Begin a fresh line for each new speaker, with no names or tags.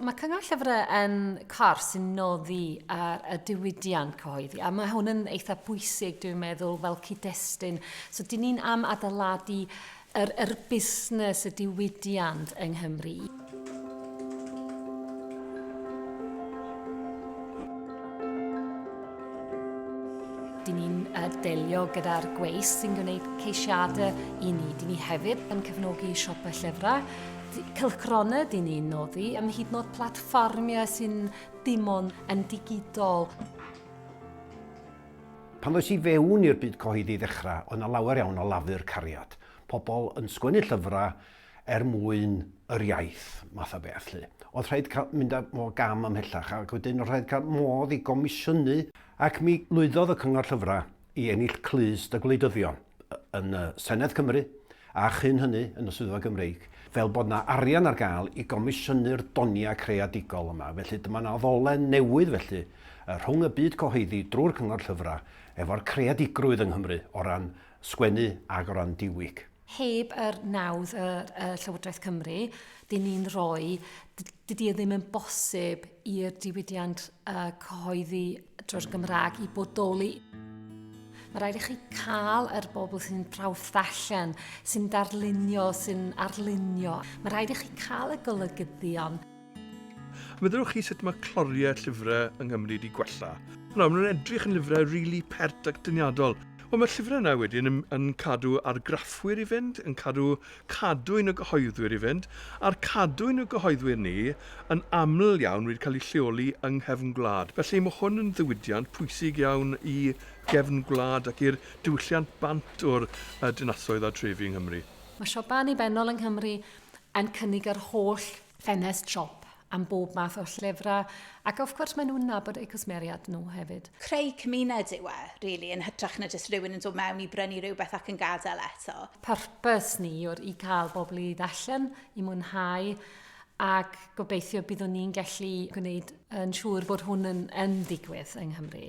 Mae Cyngor Llyfrau yn corff sy'n noddi ar y diwydiant cyhoeddi, a mae hwn yn eitha pwysig, dwi'n meddwl, fel cyd-destun. So, dyn ni'n am adeiladu yr, yr busnes, y diwydiant yng Nghymru. Dyn ni'n uh, delio gyda'r gweis sy'n gwneud ceisiadau i ni. Dyn ni hefyd yn cefnogi siopau llyfrau cylchgronau dŷn ni'n noddi, ym hyd yn oed platfformiau sy'n dim ond yn digidol. Pan ddoes i fewn i'r byd cyhoeddi i ddechrau, oedd 'na lawer iawn o lafur cariad. Pobl yn sgwennu llyfrau er mwyn yr iaith, math o beth 'lly. Oedd rhaid cael mynd â fo gam ymhellach ac wedyn oedd rhaid cael modd i gomisiynu ac mi lwyddodd y Cyngor Llyfrau i ennill clust y gwleidyddion. yn Senedd Cymru a chyn hynny yn y Swyddfa Gymreig, fel bod yna arian ar gael i gomisiynu'r doniau creadigol yma. Felly dyma yna ddolen newydd felly rhwng y byd cyhoeddi drwy'r Cyngor Llyfrau efo'r creadigrwydd yng Nghymru o ran sgwennu ac o ran diwyg. Heb yr nawdd y, y Llywodraeth Cymru, dyn ni'n rhoi, dydy e ddim yn bosib i'r diwydiant uh, cyhoeddi drwy'r Gymraeg i bodoli. Mae rhaid i chi cael yr er bobl sy'n prawf ddarllen, sy'n darlunio, sy'n arlunio. Mae rhaid i chi cael y golygyddion. Meddylwch chi sut mae cloriau llyfrau yng Nghymru wedi gwella. Nawr, maen nhw'n edrych yn lyfrau rili really pert ac dyniadol. Wel, mae'r llyfrau yna wedyn yn, yn cadw argraffwyr i fynd, yn cadw cadwyn y gyhoeddwyr i fynd, a'r cadwyn y gyhoeddwyr ni yn aml iawn wedi cael ei lleoli yng nghefn gwlad. Felly, mae hwn yn ddiwydiant pwysig iawn i gefn gwlad ac i'r diwylliant bant o'r dinasoedd a trefi yng Nghymru. Mae siopau annibynnol yng Nghymru yn cynnig yr holl ffenest siop am bob math o llyfrau, ac of course maen nhw'n nabod eu cwsmeriaid nhw hefyd. Creu cymuned yw e, really, yn hytrach na jyst rhywun yn dod mewn i brynu rhywbeth ac yn gadael eto. Purpose ni yw'r i cael bobl i ddarllen, i mwynhau, ac gobeithio byddwn ni'n gallu gwneud yn siŵr bod hwn yn, yn digwydd yng Nghymru.